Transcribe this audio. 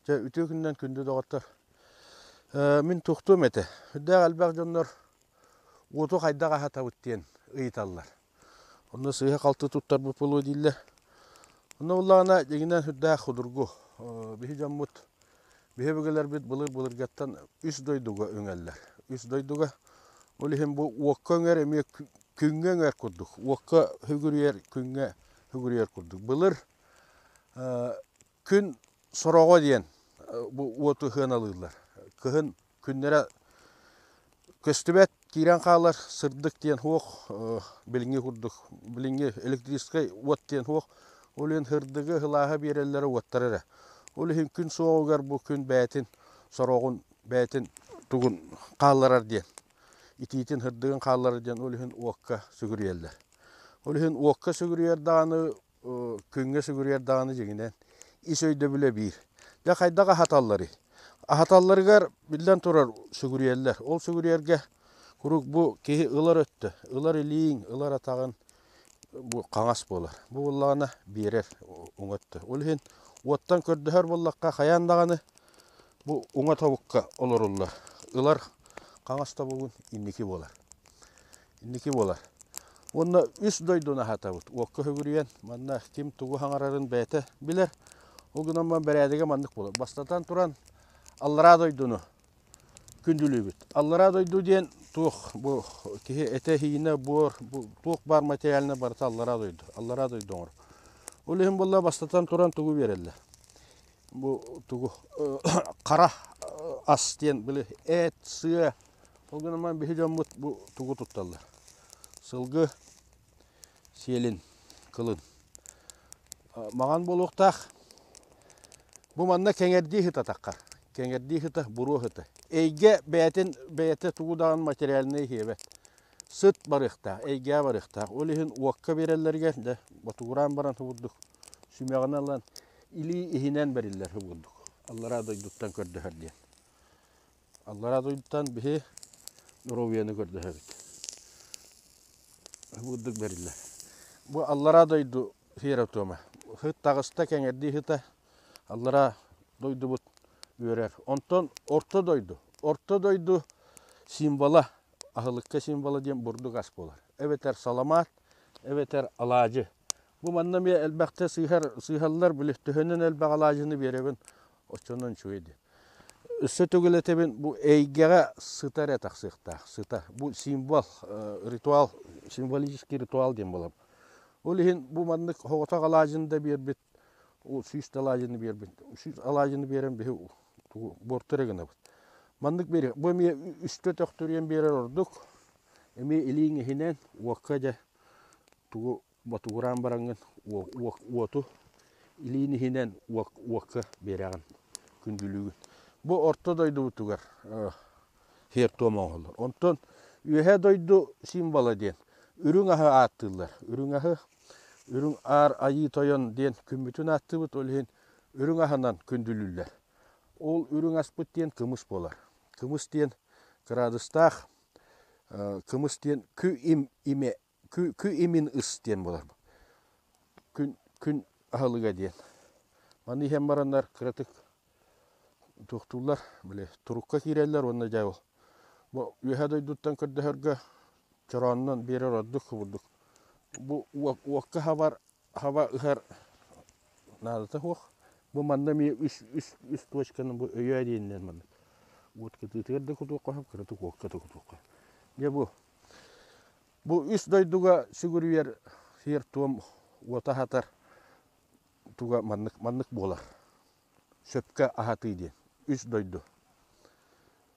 Дьэ, үтүө күнүнэн күндү доҕоттор. Мин тухтуум этэ. Үрдээх элбэх дьоннор уоту хайдах аһатабыт диэн ыйыталлар. Онно сыыһа-халты туттарбыт буолуо дииллэр. Онно буоллаҕына, дьиҥинэн үрдээх судургу. Биһи дьоммут, биһи өбүгэлэрбит былыр-былыргаттан үс дойдуга үҥэллэр. Үс дойдуга, ол иһин бу уокка үҥэр эмиэ күҥҥэ үҥэр курдук. Уокка үгүрүйэр, күҥҥэ үгүрүйэр курдук. Былыр Күн сороҕо диэн бу уоту сыаналыыллар. Кыһын күннэрэ көстүбэт, киирэн хаалар сырдык диэн суох, билиҥҥи курдук, билиҥҥи электрическай уот диэн суох. Ол иһин сырдыгы, сылааһы биэрэллэрэ уоттар эрэ. Ол иһин күн суоҕугар бу күн бэйэтин сороҕун, бэйэтин тугун хаалларар диэн, итиитин, сырдыгын хаалларар диэн ол иһин уокка сүгүрүйэллэр. Ол иһин уокка сүгүрүйэр даҕаны күҥҥэ сүгүрүйэр даҕаны дьиҥинэн ис өйдөбүлэ биир. Дьэ хайдах аһаталларый? Аһаталларыгар, биллэн турар, сүгүрүйэллэр. Ол сүгүрүйэргэ куруук бу киһи ылар өттө, ылар илииҥ, ылар атаҕыҥ бу хаҥас буолар. Бу буоллаҕына биэрэр уҥа өттө. Ол иһин уоттан көрдөһөр буоллахха хайаан даҕаны бу уҥа тобукка олоруллар. Ылар хаҥас тобугун инники буолар. инники буолар. Уонна үс дойдуну аһатабыт. Уокка хөгүрүйэн, манна ким тугу хаҥарарын бэйэтэ билэр. Ол гынан баран бэрээдэгэ маннык буолар. Бастатан туран, аллараа дойдуну күндүлүүбүт. Аллараа дойду диэн туох бу киһи этэ-иһинэ буор, бу туох баар материальна барыта аллараа дойду. Аллараа дойду оҥоро. Ол иһин буолла бастатан туран тугу биэрэллэр? Бу тугу хара ас диэн били эт, сыа, Ол гынан баран биһи дьоммут бу тугу тутталлар? Сылгы, сиэлин, кылын. Маҥан буолуохтаах. Бу манна кэҥэрдии ыһытатахха, кэҥэрдии ыһыта, буруо ыһыта. Эйгэ бэйэтин бэйэтэ тугу даҕан материальнай иһиэбэт. Сыт барыахтаах, эйгээ барыахтаах. Ол иһин уокка биэрэллэригэр дьэ ботугураан баран субурдук сүмэҕинэ ылан илии иһинэн бэриллэр субурдук. Аллараа дойдуттан көрдөһөр диэн. Аллараа дойдутан биһи доруобуйаны көрдөһөбүт. Бурдук бэриллэр. Бу аллараа дойду хиэротуома. Ыһыт таҕыста, кэҥэрдии ыһыта аллараа дойдубут үөрэр. Онтон орто дойду. Орто дойду символа, аһылыкка символа диэн бурдук ас буолар. Эбэтэр саламаат, эбэтэр алаадьы. Бу манна эмиэ элбэхтэ сыыһар, сыыһаллар, били төһөнөн элбэх алаадьыны биэрэбин, оччонон үчүгэй дии. Өссө төгүл этэбин, бу эйгэҕэ сыта эрэ тахсыахтаах, сыта. Бу символ, ритуал, символический ритуал диэн буолар. Ол иһин бу маннык соҕотох алаадьыны да биэрбит, сүүс да алаадьыны биэрбит, сүүс алаадьыны биэрэн биһи буорту эрэ гынабыт. Маннык биэриэх. Бу эмиэ үстэ төхтүрүйэн биэрэр ордук. Эмиэ илииҥ иһинэн уокка дьэ тугу ботугураан бараҥҥын уоту илиин иһинэн уокка биэрэҕин күндүлүүгүн. Бу орто дойдубутугар сиэр-туом оҥоһуллар. Онтон Үөһээ дойду символа диэн үрүҥ аһы ааттыыллар. Үрүҥ аһы, үрүҥ аар айыы тойон диэн күммүтүн ааттыыбыт, ол иһин үрүҥ аһынан күндүлүүллэр. Ол үрүҥ аспыт диэн кымыс буолар. Кымыс диэн кыраадыстаах кымыс диэн кы имэ Кү, кү имин ыс диэн буолар бу. Күн, күн аһылыга диэн. Маны иһэн бараннар кыратык туохтууллар, били турукка киирэллэр уонна дьэ ол бу үөһэ дойдуттан көрдөһөргө чорооннон биэрэр ордук кубурдук. Бу уок, уокка хабар, хаба ыһар наадата суох. Бу манна эмиэ үс, үс, үс точканы бу өйөө диэнинэн маннык. Уот кытыытыгар да кутуохха сөп, кыратык уокка да кутуохха сөп. Дьэ бу Бу үс дойдуга сүгүрүйэр сиэр-туом уота аһатар туга маннык маннык буолар сөпкө аһатыы диэн үс дойду